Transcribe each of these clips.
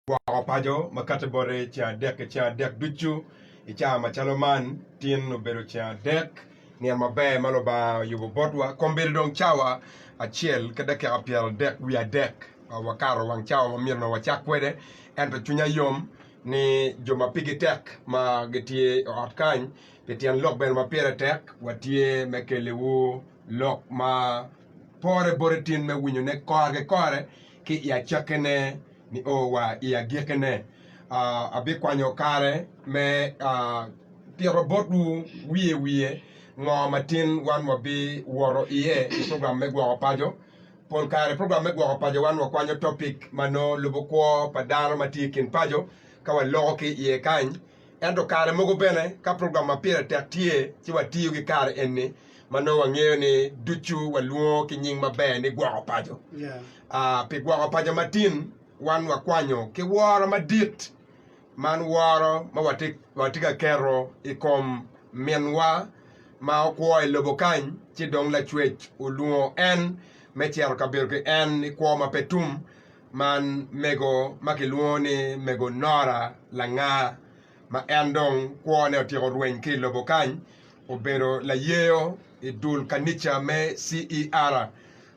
Gwoko paco ma kati bote ceng adek-ki ceng adek ducu i caa macalo man tin obedo ceng adek, nino maber ma Lubanga oyubo botwa. Kombeddi dong cawa acel ki dakika pyeradek wiye adek ma wakato wang cawa ma myero onongo wacak kwede. Ento cwinya yom ni jo ma pigi tek ma gitye i ot kany pi tyen lok bene ma pire tek, watye me keliwu lok ma pore bote tin me winyone kore ki kore. ki i acakkine nio wa i agikkine. Abikwanyo kare me tito botwu wiye wiye ngo matin wan wabiwoto iye i program me gwoko paco. Pol kare i program me gwoko paco wan wakwanyo topic ma nongo lubo kwo pa dano ma tye i kin paco ka waloko ki iye kany. Ento kare mogo bene ka program ma pire tek tye, ci watiyo ki kare eni ma nongo wangeyo ni ducu walwongo ki nying maber ni gwoko paco. Pi gwoko paco ma tin, wan wakwanyo ki woro madit, man woro ma watye ka keto i kom Minwa ma okwo i lobo kany, ci dong Lacwec olwongo en me cito ka bedo ki en i kwo ma pe tum. Man mego ma kilwongo ni mego Nora Langa ma en dong kwone otyeko rweny ki i lobo kany obedo layeyo i dul kanica me CER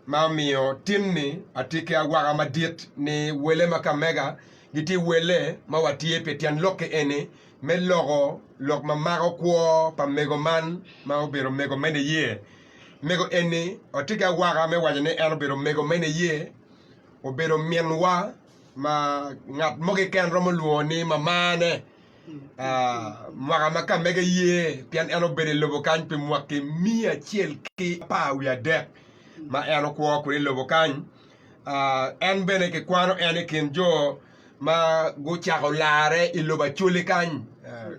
ma omiyo tin-ni atye ki awaka madit ni wele ma kamega gitye wele ma watye pi tyen lokki eni me loko lok ma mako kwo pa mego man ma obedo mego me niye. Mego eni watye ki awaka me waco ni en obedo mego me niye. obedo minwa ma ngat mo keken romo lwongo ni mamane mwaka ma ka mege ye pien en obedo i lobo kany pi mwaki miya acel ki apar wiye adek ma en okwo kwede i lobo kany en bene ki kwano en i kin jo ma gucako larre i lobo acholi kany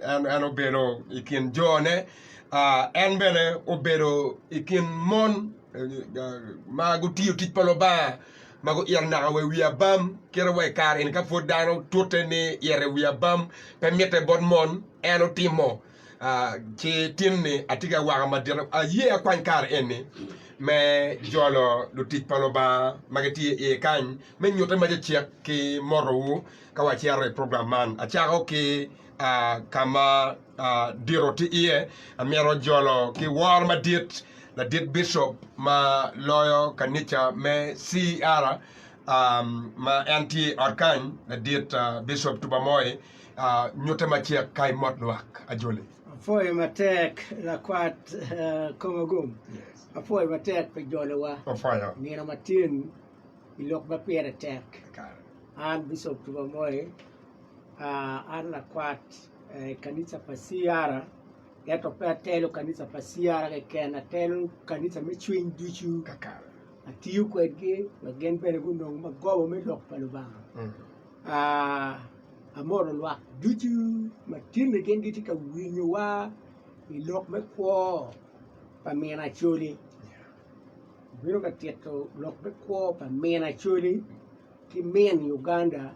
en obedo i kin jone en bene obedo i kin mon ma gutiyo tic pa Lubanga ma guito naka wa i wi abam kit ma wa i kare-ni ka pud dano tute ni ito i wi abam pe mitte bot mon en otimo ci tinni atye ka waka madit aye akwany kare eni me jolo lutic pa Lubanga ma gitye iye kany me nyutte ma cecek ki motowu ka wacito i program man. Acako ki ka ma dito tye iye amyero jolo ki woro madit ladit bicop ma loyo kanica me CER ma en tye i ot kany ladit bicop Tubamoi nyute macek ka i mot lwak ajoli. Apwoyo matek lakwat Komagum, apwoyo matek pi jolowa nino matin i lok ma pire tek. An bicop Tubamoi, an lakwat. Kanisa pa CR, ento pe atelo kanisa pa CR keken, atelo kanisa me cwiny ducu. Atiyo kwedgi wek gin bene gunong magobo me lok pa Lubanga. Amoro lwak ducu ma tinni gin gitye ka winyowa i lok me kwo pa min Acholi. Obino ka tito lok me kwo pa min Acholi ki min Uganda.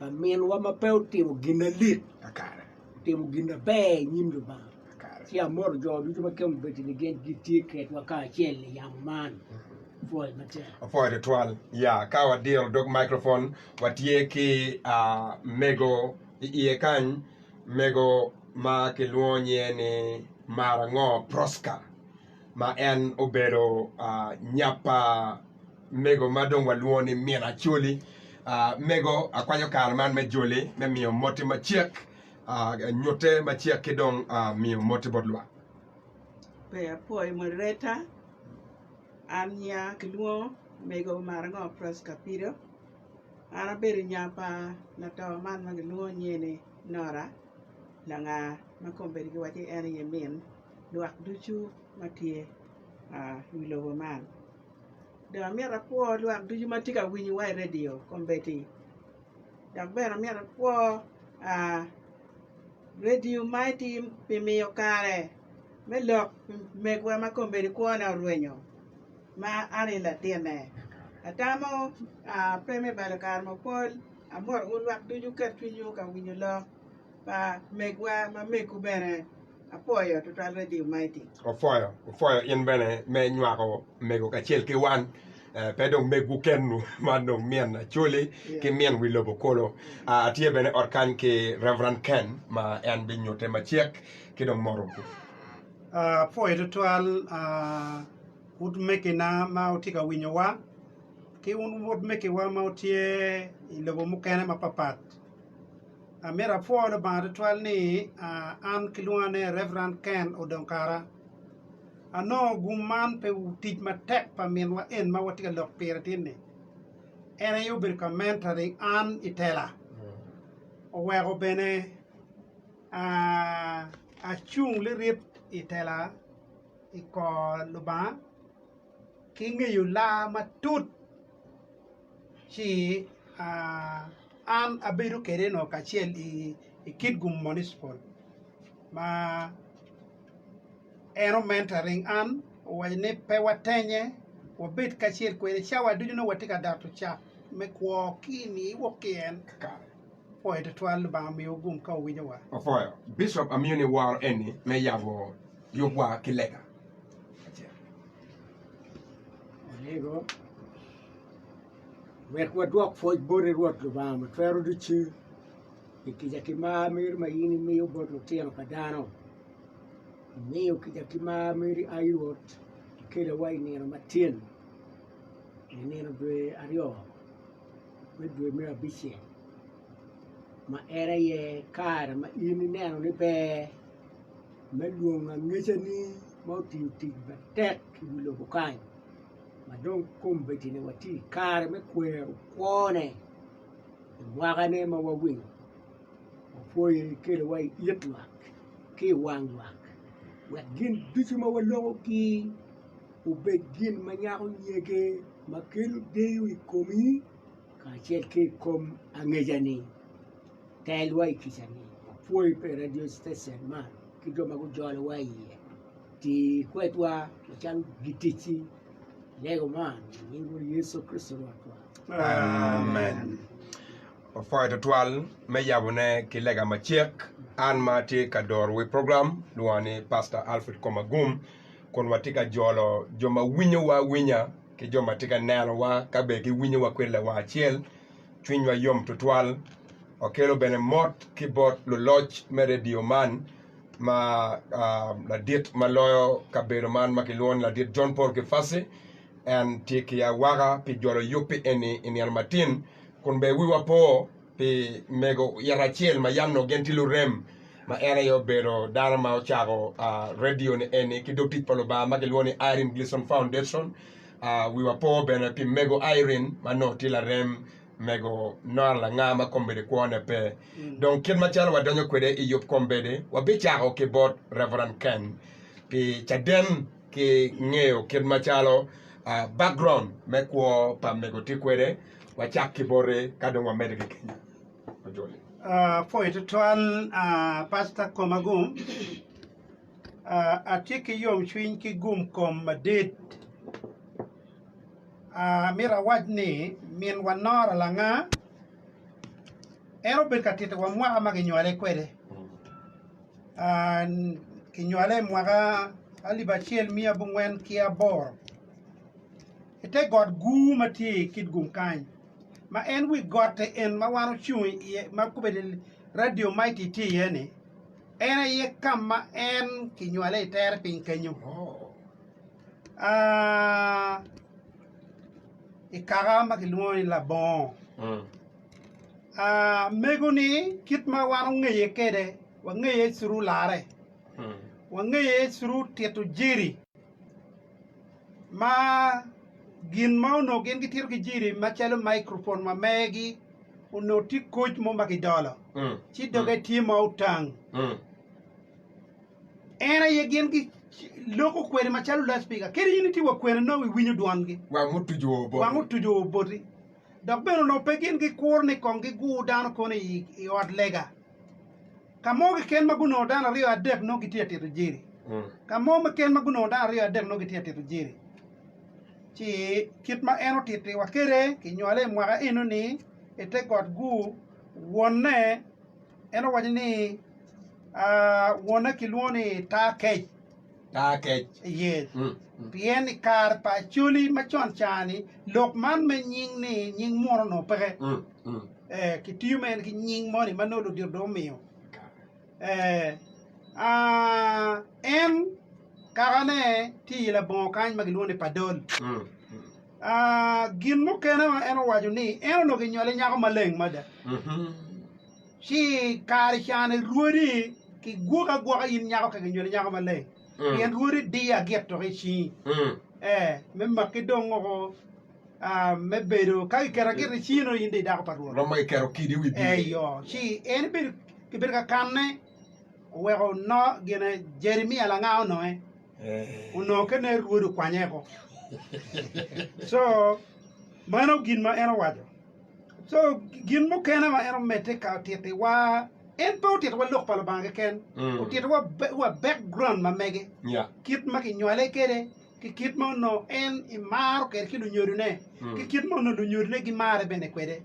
Laminwa ma pe otimo gin na lik kakare otimo gin na ber i nyim Lubanga kakare. Ci amoto jo ducu ma kemo bedo ni gin gitye kedwa kacel i yamo man. Pwoc matek. Opwoyo tutwal. Ya, ka wadiro dog microphone, watye ki ah, mego i iye kany, mego ma kilwongo nyinge ni Marango Prosca. ma en obedo nyap pa mego ma dong walwongo ni min Acholi. Mego akwanyo kare man me joli me miyo motti macek, nyutte macek ki dong miyo motti bot lwak. Pe apwoyo moderator, an nyinga kilwongo mego omar ango Pross Kapido, an abedo nya pa lato man ma kilwongo nyeni Nora Langa ma kombeddi giwaco ni en aye min. lwak ducu ma tye i wi lobo man. Dong amyero akwo lwak ducu ma tye ka winyowa i redio kombeddi dok bene amyero akwo redio ma kimiyo kare me lok megwa ma kombeddi kwone orwenyo ma an i latinne. Atamo pe me balo kare mapol, amyero wun lwak ducu wuket cwinywu ka winyo lok. Pa megwa ma mekwu bene apwoyo tutwal Radio Mighty. Opwoyo, opwoyo in bene me nywako mego kacel ki wan. Eh, pe dong megwu kenwu, man dong min Acholi ki min wi lobo kulu. Ah, atye bene ot kany ki Reverend Ken ma en binyutte macek ki dong mot ogu. Ah, apwoyo tutwal ah, wun megina ma wutye ka winyowa, ki wun wod megiwa ma wutye i lobo mukene mapapat. Amito apwo Lubanga tutwal ni an kilwonga ni Rev. Ken Odong Kara. Anongo gum man pi tic matek pa minwa en ma watye ka lok pire tinni. En aye obedo ka mentoring an i tela, oweko bene acung lirit i tela i kor Lubanga ki ngeyo laa matut. ci an abedo kwede nongo kacel i Kitgum Municipal ma en omentoring an owaco ni pe watennye wabed kacel kwede cawa ducu nongo watye ka doto cat me kwo ki i ni iwok ki en apoyo twatwal Lubanga omiwa gum ka owinyowa. Apoyo Bicop amiyo ni woro eni me yabo yubwa ki lega. Wek wadwok pwoc boti Rwot Lubanga ma Twero Ducu pi kica ki mar meri ma in imiyo bot lutino pa dano. Imiyo kica ki mar meri, ai Rwot, ikelawa i nino matin, i nino dwe aryo me dwe me abicel ma en aye kare ma in ineno ni ber me lwongo angecani ma otiyo tic matek i wi lobo kany. ma dong kombeddi-ni watye i kare me kwero kwone i mwaka-ni ma wawinyo wapwoyo iye keliwa i it lwak ki i wang lwak wek gin ducu ma walokogi obed gin ma nyako nyege ma kelo deyo i komi kacel ki i kom angecani. Telwa i kica-ni. Wapwoyi pi redio citecen man ki jo ma gujolowa iye. Ti kwedwa macalo giticci. Lego man i nying Rwot Yecu Kricito Rwotwa. Amen. Wapwoyo tutwal me yabone ki lega macek. An ma atye ka doro wi program lwonga ni Pastor Alfred Komagum kun watye ka jolo jo ma winyowa awinya ki jo ma tye ka nenowa ka bene giwinyowa kwede lawang acel. Cwinywa yom tutwal. Wakelo bene mot ki bot luloc me redio man ma ladit ma loyo kabedo man ma kilwongo ni ladit John Paul Kifasi en tye ki awaka pi jolo yubbi eni i nino matin kun bene wiwa po pi mego it acel ma yam onongo gin tye lurem ma en aye obedo dano ma ocako redio ni eni ki dog tic pa Lubanga ma kilwongo ni Irene Gleason Foundation wiwa po bene pi mego Irene ma nongo tye larem mego nongo langa ma kombeddi kwone pe. Dong kit macalo wadonyo kwede i yub kombeddi, wabicako ki bot Rev. Ken pi caden ki ngeyo kit macalo uh, background me kwo pa mego tye kwede. Wacak ki boti ka dong wamedde ki kenya. Ojoli. Ah, apoyo tutwal ah, Pasta Komagum. Ah, atye ki yomcwiny ki gum kom madit. amyero awac ni minwa Nora Langa en obedo ka titowa mwaka ma kinywale kwede kinywale i mwaka alip acel miya abongwen ki aboro i te got gur ma tye i Kitgum kany ma en wi gotti en ma wan ocung iye ma obedo Radio Mighty tye iye ni en aye ka ma en kinywale itere piny kenyo i kaka ma kilwongo ni labongo mego ni kit ma wan ongeye kwede wangeye through lare wangeye through tito jeri ma gin ma onongo gin gitito ki jeri macalo microphone wa megi onongo tye koc mo ma kidolo ci doge tye ma otang En aye gin gi loko kweri macalo loudspeaker kadi in itye wa kwene nongo iwinyo dwongi. Wang mutuju oboti. Wang mutuju oboti. Dok bene onongo pe gin gikuro ni kong gigur dano kono i, i ot lega. Ka mo keken ma gunongo dano aryo adek nongo gitye ka tito jeri. Mm. Ka mo keken ma gunongo dano aryo adek nongo gitye ka tito jeri. Ci kit ma en otittiwa kede kinywale i mwaka eno ni i te got gur wonne En owaco ni, Wonna kilwongo ni Taa Kec. Taa Kec. Iye. Pien i kare pa Acholi ma con ca-ni, lok man me nying ni nying muno onongo peke. Eh, kitiyo mere ki nying moni ma nongo ludito dong omiyo. Eh, ah, en kakane tye i labongo kany ma gilwongo ni Padol. Gin mukene ma en owaco ni en onongo kinyole nyako maleng mada, ci kare ca ni rwodi kigwoki agwoka in nyako ka kinyoli nyako maleng, pien rwodi diyo agit tok i cingi, ee, me maki dong oko me bedo ka kiketo agit i cingi nongo in dong idako pa Rwot. Romo kiketo kidi i wi bye. Eyo, ci en ibedo kibedo ka kanne, oweko no gine Jeremia langa ononge. onongo kene rwod okwanye eko co mano gin ma en owaco co gin mukene ma en omedde ka otiti wa en pe otiti wa lok pa lubanga keken otiti wa wa background ma mege kit ma ki nywale kede ki kit ma ono en i maro kede ki lunyodo ne ki kit ma ono lunyodo ne gi mare bene kwede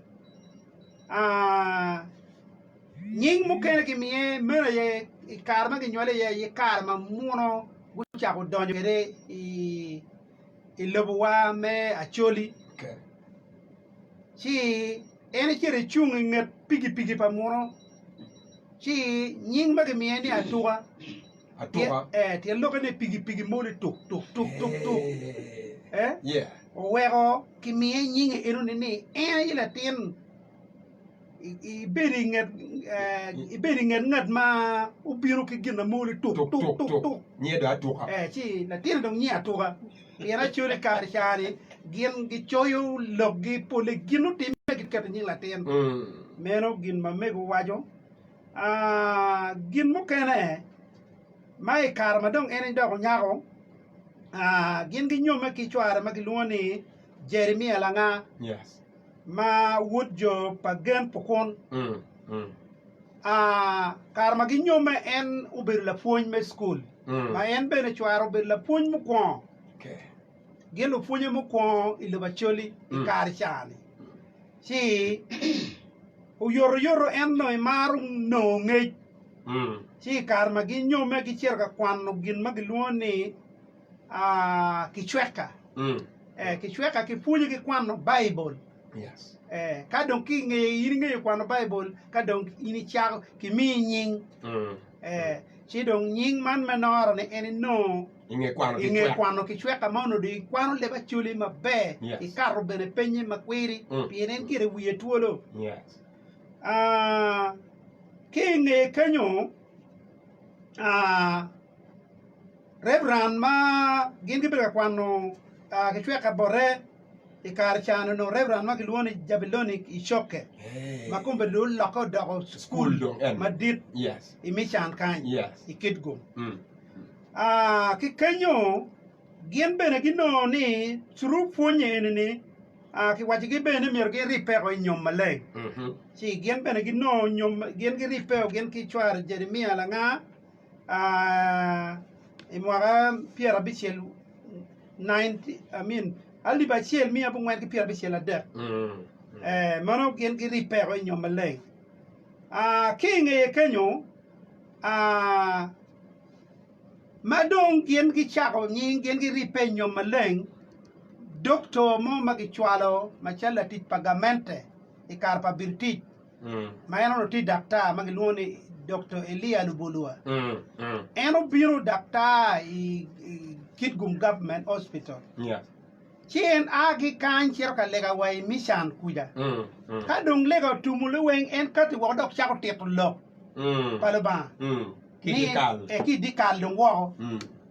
Nying mukene gimiye meno aye i kare ma ginywale iye aye kare ma muno gucako donyo kwede i lobowa me Acholi. Ci en ecito ecung i nget pigipigi pa muno ci nying ma gimiye ni Atuka. Tyen lokke ni pigipigi mo ni tuk tuk tuk tuk tuk. Oweko kimiye nyinge enoni ni en aye latin. ibedo i nget ngat ma obino ki gin na moli tuk tuk tuk ngiye dong atuka ci latinni dong ngiye atuka pien acwalo i kare cani gin gicoyo lokgi pole gin nutimme giketo i nying latin meno gin ma mego waco gin mukene ma i kare ma dong en dok onyako gin ginyomme ki cware ma gilwongo ni Jeremia langa. ma wod jo pa gen Pukun. Kare ma ginyomme, en obedo lapwony me cukul, ma en bene cware obedo lapwony mukwongo, gin lupwonye mukwongo i lobo Acholi i kare ca-ni. Ci oyotoyoto en onongo emaro nongo ngec, ci i kare ma ginyomme gicito ka kwano gin ma gilwongo ni kicweka, kicweka ki pwonye ki kwano baibul ka dong ki nge in ingeyo kwano baibul ka dong in icako ki miyi nying ci dong nying man me noro ni en inongo inge kwano kicweka ma onongo dong ikwano leb acoli maber ikato bene penye ma kwiri pien en gire wiye twolo ki inge kenyo Reverend ma gin gibedo ka kwano kicwek ka bote i kare ca ni onongo Reverend ma kilwongo ni Jabilonic Icoke ma kome dong olokke odoko cukul madit i Mican kany i Kitgum. Ki kenyo gin bene ginongo ni through pwonye eni ni kiwacigi bene ni myero giribbeko i nyom maleng ci gin bene ginongo nyom gin giribbeo gin ki cware Jeremia langa I mwaka pyerabicel alip acel miya abongwen ki pyerabicel adek meno gin girippeo i nyom maleng ki i ngeye kenyo ma dong gin gicako nying gin girippe i nyom maleng dokto mo ma kicwalo macalo latic pa gamente i kare pa British. ma en onongo tye daktar ma gilwongo ni Dokto Elia Lubulua. En obino daktar i Kitgum Government Hospital. Ci en a ki kany cito ka lega wa i Mican kuca. Ka dong lega otumo liweng, en kati woko dok cako tito Lok pa Lubanga ki i dyekal dong woko.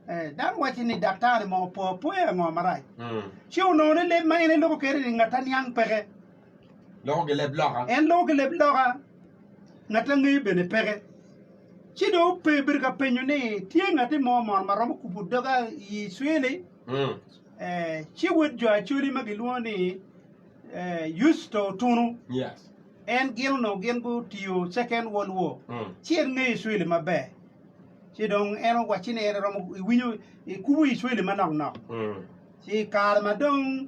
Dano wacce ni daktar-ni mo opo apoya ango marac? Ci onongo ni leb ma en eloko kwede ni ngat aniang peke. loko gileb loka. En loko gileb loka, ngat angeyo bene peke. Ci dong ope obedo ka penyo ni, tye ngati mo mono ma romo kubo doga i Icwili? Mm. Eh, ci wod jo acoli ma gilwongo ni eh, Yusto otunu. Yes. En gin onongo gin gutiyo Second World War. Mm. Ci en ngeyo Icwili maber. Ci dong en owacci ni en romo iwinyo ikubo Icwili manok nok. Mm. Ci i kare ma dong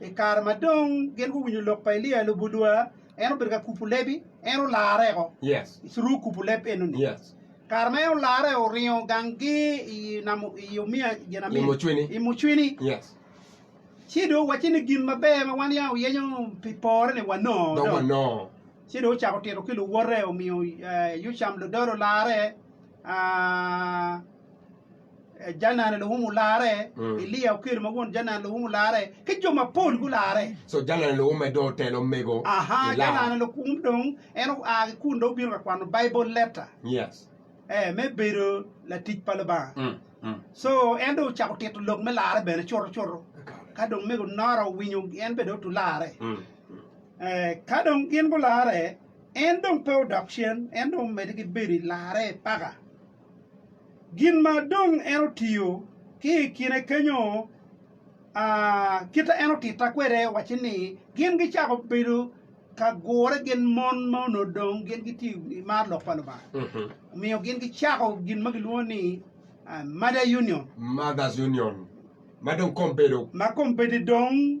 I kare ma dong gin guwinyo lok pa Elia, lubodwa, en obedo ka kupu lebi, en olarreo i curuku kupu leb enoni. Kare ma en olarreo, oringo gang gi i nam i omiya ginamini, i mucwini. Ci dong wacci ni gin maber ma wan ya wuyenyo pi pore ni wanongo do. Ci dong ocako tito ki luwote, omiyo Yucam ludolo olarre. Janan Luhum olarre, Eliya okel ma won Janan Luhum olarre, ki jo mapol gularre. So Janan Luhum en dong otelo omego i Aha, lar. Janan Luhum dong en oa ki kun dong obino ka kwano Baibul letta Yes. eh, me bedo latic pa Lubanga. Mm, mm. So en dong ocako tito lok me larre bene cuto cuto. Kakare. Ka dong mego Nora owinyo en bene dong otu larre. Mm, mm. Eh, ka dong gin gularre, en dong pe odok cen, en dong omedde ki bedo i larre paka. Gin ma dong en otiyo ki i kine kenyo, kite en otitta kwede wacci ni gin gicako bedo ka gure gin mon ma onongo dong gin gitye i mar lok pa Lubanga. Omiyo gin gicako gin ma gilwongo ni Mother Union. Mother's Union ma dong kombedo. Ma kombedo dong.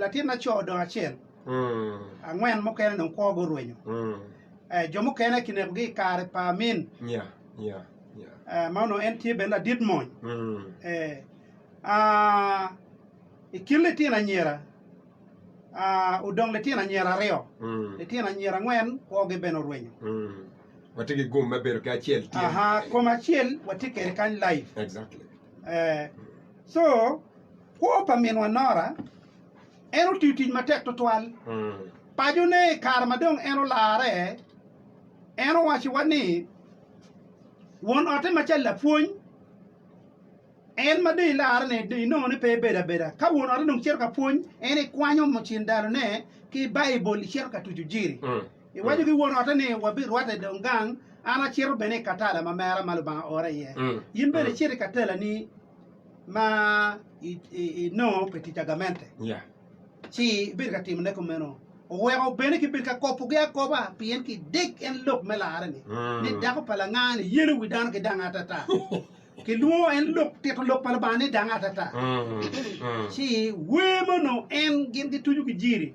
latin laco odong acel, angwen mukene dong kwogi orwenyo, jo mukene kinekogi i kare pa Amin ma onongo en tye bene ladit mony. I kin litino anyira odong litino anyira aryo, litino anyira angwen kwogi bene orwenyo. Co kwo pa minwa Nora, en otiyo tic matek tutwal. Pacone i kare ma dong en olarre, en owacowa ni won otte ma cal lapwony, en ma dong ilarre ni dong inongo ni pe ibedo abeda. Ka won otte dong cito ka pwony, en ikwanyo cin dalone ki Baibul icito ka tucu jiri. Iwaco ki won ote ni, 'Wabirwatte dong gang, an acito bene i katala ma mera ma Lubanga oora iye. In bene icit i katalani ma inongo pi tic agamente, ci ibed ka timone kumeno. Oweko bene kibed ka kobogi akoba, pien ki dek en lok me larre-ni, ni dako pa langanga-ni yelo wi dano ki danga atata. Kilwongo en lok tito lok pa Lubanga ni danga atata. Ci wer mono en gin gituco ki jiri.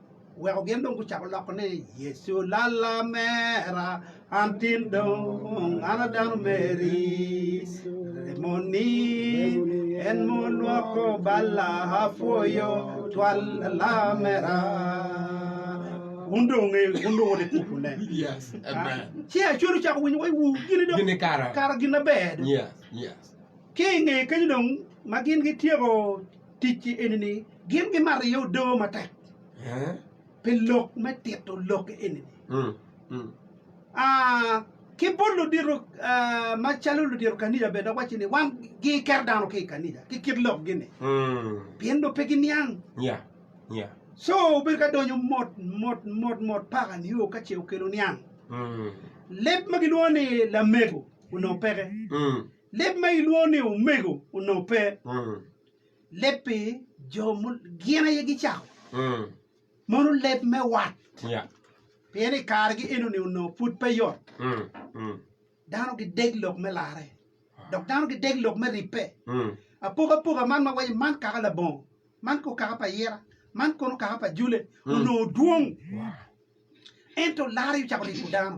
Weko gin dong gucako loko ni Yecu lalla mera an tin dong an a dano meri remoni en mo lwoko balla apwoyo twal lalla mera wun dong wungeyo wun dong wone kuku ne yes amen ci acwero cako winyo wai wu gini dong gini kara kara gin aber yes yes ki nge kenyo dong ma gin gityeko Ticgi eni ni gin gimariyo odoo matek pi lok me tito lok eni ni ki bot ludito ma calo ludito kaniya bene dok wacci ni wan gi ker dano ki kaniya ki kit lok gi ni pien dong pe gi niang so obedo ka donyo mot mot mot mot paka nio ka ce okelo niang leb ma gi lwongo ni lamego onongo peke. Leb ma ilwongo ni omego onongo pe. Leb pi jo gin aye gicako. Mono leb me wat. Pien i kargi enoni onongo pud pe yot. Dano gideg lok me larre, dok dano gideg lok me ribbe. Apokapoka man ma waco man kaka labongo, man kono kaka pa ira, man kono kaka pa jule onongo dwong. Ento larre ocako ribo dano.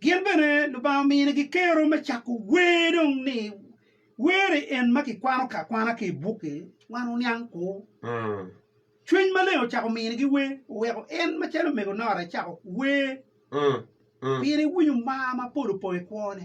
Gin bene Lubanga ominigi kero me cako wer dong ni were en ma kikwano ka kwana ki i bukke wan oniang kwo. Cwiny maleng ocako minigi wer, oweko en macalo omego Nora ecako wer pire iwinyo mar mapol opong i kwone.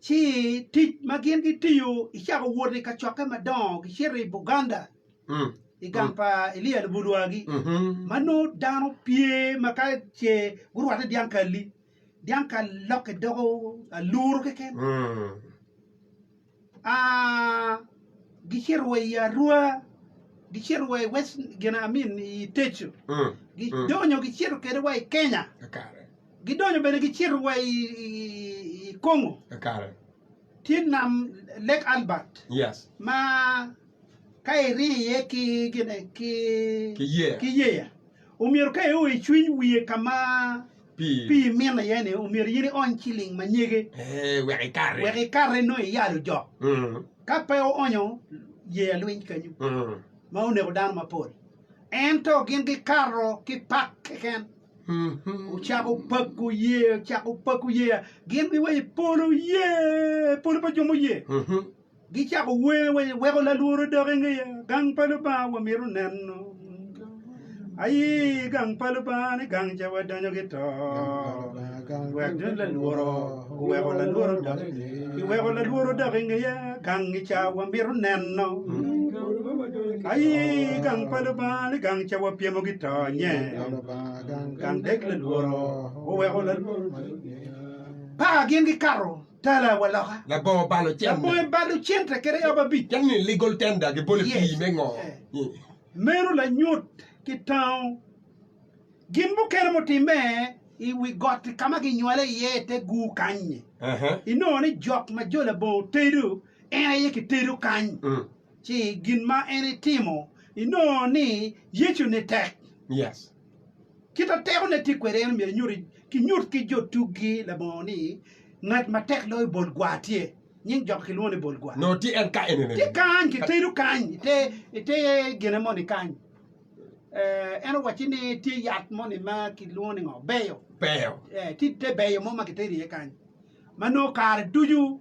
Ci tic ma gin gitiyo icako wot i kacokke madongo gicito i Buganda i gang pa Elia Lubulwagi ma nongo dano pye ma ka ce gurwate dyang kalli, dyang kal lokke doko aluru keken. A gicito wa i Arua, gicito wa i West gin I mean i Teco, gidonyo gicito kede wa i Kenya. Gidonyo bene gicito wa i Congo. Kare. Tye nam Lake Albert. Yes. Ma ka iriyo iye ki gine ki ki yeya. Ki yeya. Omyero ka io icwiny wiye ka ma pii pii mino iye ni omyero in iony ciling ma nyege. Ee, wek ikati. Wek ikati nongo iyalo jok. Mm. Ka pe oonyo yeya lwiny kanyu. Mm. Ma oneko dano mapol. Ento gin gikato ki pak keken, ocako pako ye, ocako pako ye. Gin giwaco, Polo ye, polo pa jo muye. Gicako wer, waco, Weko lalworo odok i ngeya, gang pa Lubanga wamito neno. Aye gang pa Lubanga ni gang ca wadonyo ki to, wek dong lalworo Iweko lalworo dok iweko lalworo dok ingeya gang i ca wa mito neno ayi gang pa lubanga ni gang ca wa pyemo gi to nye gang dek lalworo oweko lalworo paka gin gi kato tala wa loka labongo balo cente labongo balo cente kede yabo abic calo ni legal tender gi bole yes. pii me ngo meno lanyut ki tango Gin mukene mutimme i wi got-ti ka ma ginywale iye i te gur kany-nyi. Inongo ni jok ma jo labongo tedo, en aye kitedo kany. Ci gin ma en etimo, inongo ni Yecu nitek. Kit ma tekone tye kwede, en myero enyuti, kinyut ki jo tuggi labongo ni, Ngat ma tek loyo bol gwa tye. Nying jok-ki kilwongo ni bol gwa. Tye kany, kitedo kany i te gine moni kany. En owacci ni tye yat moni ma kilwongo ni ngo beyo beyo tye te beyo mo ma kiteri iye kany ma nongo kare ducu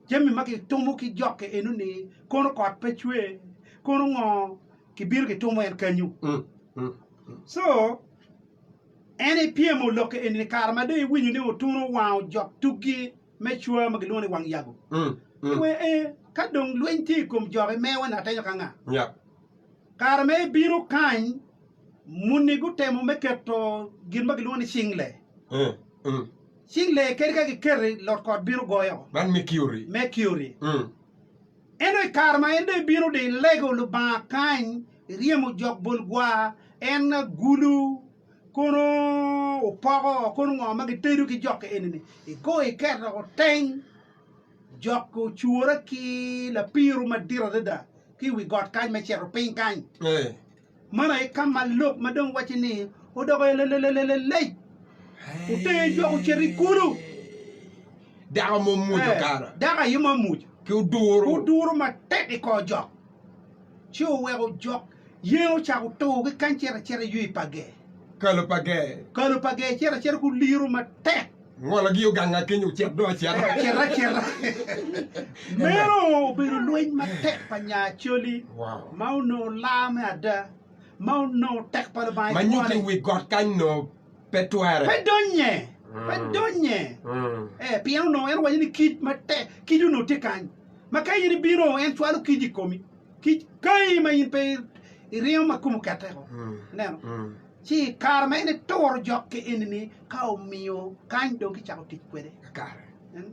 jami ma kitumo ki jokke enoni kono kot pe cwe kono ngo kibino kitumo en kanyu so en ipyemo lokke enini kare ma dong iwinyo ni otuno owango jok tukgi me cwa ma kilwongo ni wang yago iwe ee ka dong lweny tye i kom jokke mewa ni atenyo ka nga Kare ma ebino kany, muni gutemo me keto gin ma gilwongo ni cingle. Cingle kadi ka giketi, lot kot bino goyo. Man Mercury. Mercury. Ento i kare ma en dong ebino dong ilego Lubanga kany, iryemo jok bol gwa, en agulu, kono opoko, kono ngo ma gitedo ki jok enini, igoyo iketo teng. Jok-ki ocure ki lapiru madit adada ki i wi got kany me cito piny kany. Man aye ka ma lok ma dong wacci ni odoko elelelelelelec otenge jok ocito i kulu. Dako mo muco kara. Dako aye mo muco. Ki oduro. Oduro matek i kor jok. Ci oweko jok Yen ocako to ki kany cito acita i ywe pa ger. Kalo pa ger. Kalo pa ger cito acita ku liro matek. Ngolo gi oganga keny ocit dong acita. Ocit acita. Meno obedo lweny matek pa nya Acholi ma onongo laa me ada, ma onongo tek pa Lubanga icwale. Ma nyuto i wi got kany onongo pe twere. Pe donye. Pe donye. Ee, pien onongo en owaco ni kic matek, kic onongo tye kany, ma ka in ibino en cwalo kic i komi. Kic kayi ma in pe iringo ma kom okette-ko, ineno, ci i kare ma en eturo jokke eni-ni, ka omiyo kany dong kicako tic kwede. Kakare. Ineno?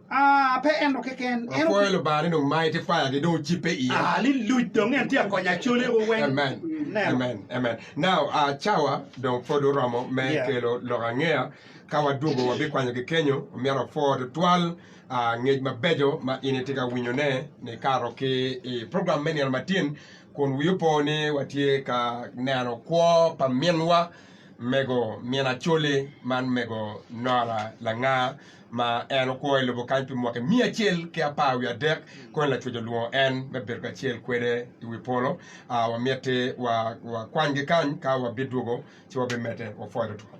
Ah, pe en-nu keken. En Apwoyo oku- Lubanga ni dong mighty fire gi dong ocipe iya. Ah, li luc dong en tye ka konyo acolego weng. Amen. Ineno? Amen. Amen. Now, ah, cawa dong pwod oromo me Yeah. kelo lok angeya. Ka wadwogo wabikwanyogi kenyo. Omyero wapwor tutwal. Ngec mabeco ma in itye ka winyone ni kato ki i program me Nino Matin kun wii opo ni watye ka neno kwo pa minwa mego Min Acholi man mego Nora Langa ma en okwo i lobo kany pi mwaki miya acel ki apar wiye adek kony Lacwec olwongo en me bedo kacel kwede i wi polo. Aa, wamiti wakwanygi kany ka wabidwogo ci wabimedde wapwoyo tutwal.